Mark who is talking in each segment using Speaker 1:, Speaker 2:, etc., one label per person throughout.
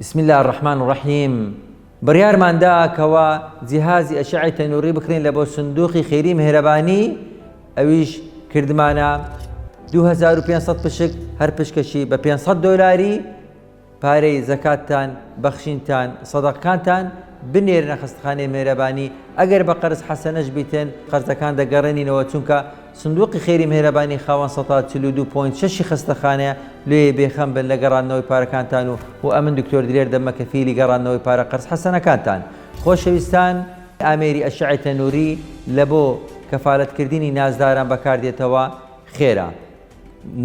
Speaker 1: بسم الله الرحمن الرحیم بڕیارمان دا کەوا جیهازی ئەشعی تەنووری بکرین لە بۆ سندوقی خێری مهرەبانی ئەویش کردمانە 2500 پشک هەر پشکەشی بە 500 دۆلاری پارەی زەکاتتان بەخشینتان سەدەقکانتان بنێرنە خستخانەی مێرەبانی ئەگەر بە قەرز حەسەنەش بیتن قەرزەکان دەگەڕێنینەوە چونکە سندوقی خێری مهرەبانی خاوەن سەتا چل و دوو پۆینت شەشی خەستەخانەیە، لۆیێ بێ خەم بن لە گەڕاندنەوەی پارەکانتان و و ئەمن دکتۆر دلێر دەبمە کەفیلی گەڕاندنەوەی پارە قەرز حەسەنەکانتان. خۆشەویستان. ئامێری ئەشعەی تەنووری لە بۆ کەفالەت کردینی نازداران بەکار دێتەوە خێرە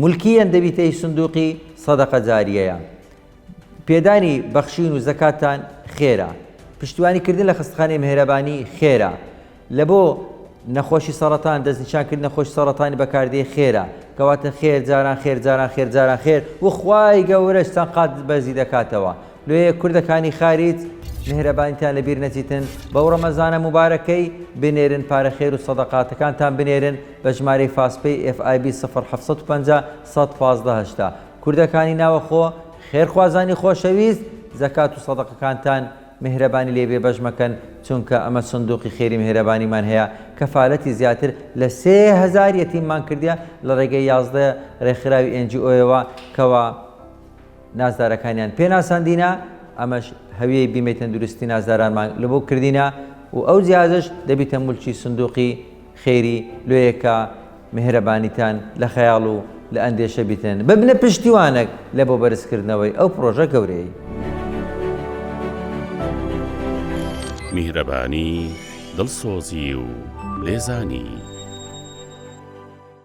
Speaker 1: مولکیەن دەبیتە ی سندوقی سەدەقە جاریەیە پێدانی بەخشین و زەکاتتان خێرە. پشتیوانی کردن لە خەستەخانەی مهێرەبانی خێرە. لە بۆ نەخۆشی سەڕەتان دەستنیشان کرد نەخۆش سەڕەتانی بەکاردێ خێرە. کەواتە خێر جاران خێر جاران خێر جاران خێر و خوای گەورەش چەند قات بەرزی دەکاتەوە. لۆیێ کوردەکانی خاریج مهێرەبانیتان لە بیر نەچیتن بەو ڕەمەزانە موبارەکەی بنێرن پارە خێر و سەدەقاتەکانتان بنێرن بە ژمارەی فاس پەی FIB سفر حەفت سەد و پەنجا سەد پازدە هەشتا. کوردەکانی ناوەخۆ خێرخوازانی خۆشەویست زەکات و سەدەقەکانتان میهرەبانی لێ بێ بەش مەکەن چونکە ئەمە سندوقی خێری میهرەبانیمان هەیە کەفالەتی زیاتر لە سێ هەزار یەتیممان کردیە لە ڕێگەی یازدە ڕێکخراوی ئێن جی ئۆیەوە کەوا نازدارەکانیان پێ ناساندینە ئەمەش هەویەی بیمەی تەندروستی نازدارانمان لەبۆ کردینە و ئەو جیازش دەبیتە مولکی سندوقی خێری لۆیەکە میهرەبانیتان لە خەیاڵ و لە ئەندێشە بیتنن ببنە پشتیوانەک لە بۆ بەرزکردنەوەی ئەو پڕۆژە گەورەیەی.
Speaker 2: میهرەبانی، دڵسۆزی و لێزانی.